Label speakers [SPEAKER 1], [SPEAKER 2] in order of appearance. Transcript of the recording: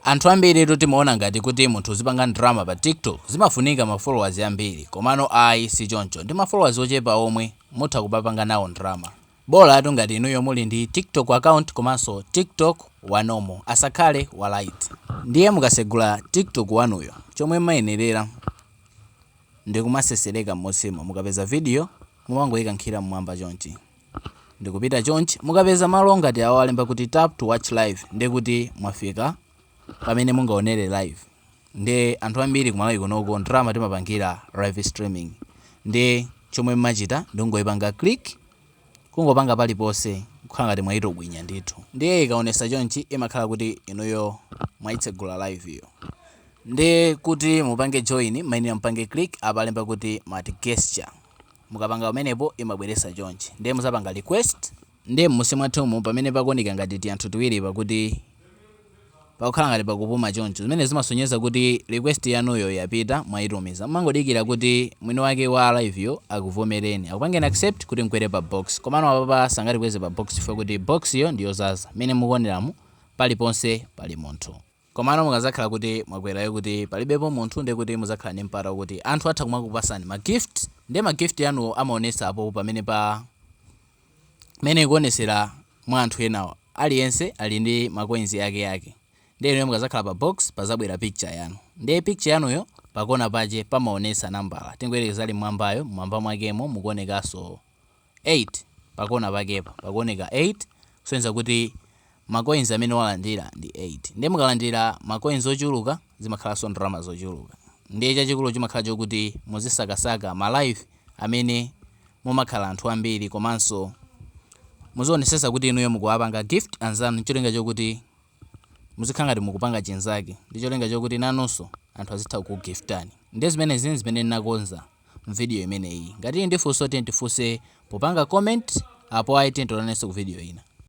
[SPEAKER 1] Anthu ambiritu timaona ngati kuti munthu uzipanga ndalama pa TikTok zimafunika ma followers ambiri komano ayi si choncho ndi ma followers ochepa omwe mutha kupanga nawo ndalama. Bolatu ngati inuyo muli ndi TikTok account komanso TikTok wa normal asakhale wa lite. Ndiye mukasegula TikTok wanuyo chomwe mmayenerera ndi kumasesereka mmutsimo mukapeza video mumangoyikankhira mmwamba chonchi. ndikupita chonchi mukapeza malo ngati awa alemba kuti tap to watch live ndiye kuti mwafika pamene mungaonere live nde anthu ambiri kumalawi kunoko ndalama timapangira live streaming nde chomwe mmachita nkungoyipanga click kungopanga paliponse kukhala ngati mwayitobwinya ndithu ndiye ikaonesa chonchi imakhala kuti inuyo mwayitsegula live iyo nde kuti mupange join mmayenera mpange click apalemba kuti multi guest mukapanga pamenepo imabweresa chonchi nde muzapanga request. Nde mmusi mwathumu pamene pakuoneka ngati tianthu tiwiri pakuti pakukhala ngati pakupuma choncho zimenezi zimasonyeza kuti request yanuyo yapita mwaitumiza mumangodikira kuti mwini wake wa live yo akuvomereni akupangeni accept kuti mkwere pa box komano apapa sangatikweze pa box chifukwa kuti box yo ndi yozaza mmene mukuoneramu paliponse pali munthu. Komano mukazakhala kuti mwakwerayo kuti palibepo munthu ndiye kuti muzakhala ndi mpata okuti anthu atha kumakupasani ma gift ndiye ma gift anuwo amaonesa apopo pamenepa mmene ikuonesera mwa anthu enawo aliyense ali ndi ma coins ake ake ndiye inuyo mukazakhala pa box pazabwera picture yanu ndiye picture yanuyo pakona pache pamaonesa nambala tingoyerekeza ali mmwambayo mmwamba mwakemo mukuonekaso 8 pakona pakepa pakuoneka 8 kusonyeza kuti ma coins amene walandira ndi 8 ndiye mukalandira ma coins ochuluka zimakhalanso ndalama zochuluka ndiye chachikulu chimakhala chokuti muzisakasaka ma live amene mumakhala anthu ambiri komanso muzionesesa kuti inuyo mukuwapanga gift anzanu ncholinga chokuti muzikhala ngati mukupanga chinzake ndi cholinga chokuti nanunso anthu azitha kukugiftani ndiye zimenezi nzimene ndinakonza mu video imeneyi. Ngati muli ndi funso tiyeni tifunse popanga comment apo ayi tiyeni tionanenso ku video ina.